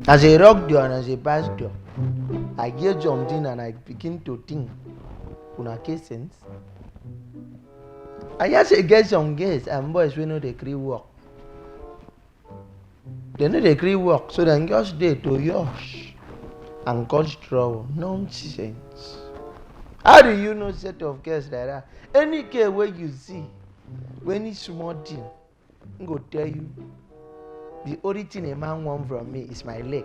As I rock door and as I pass door, I get jumped in and I begin to think. Una case sense. I just get some girls and boys wey no dey gree work. dem no dey gree work so dem just dey to yosh and cause trouble nonsense how do you know set of girls like that any girl wey you see wey need small thing im go tell you the only thing a man want from me is my leg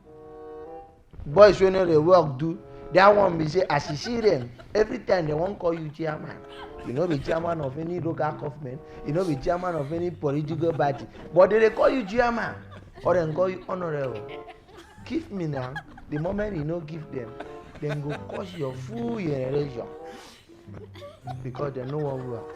boys wey no dey work do that one be say as you see them every time they wan call you chairman you no be chairman of any local government you no be chairman of any political party but they dey call you chairman or dem call you honourable give me now the moment you no give them dem go curse your full generation because dem no wan work.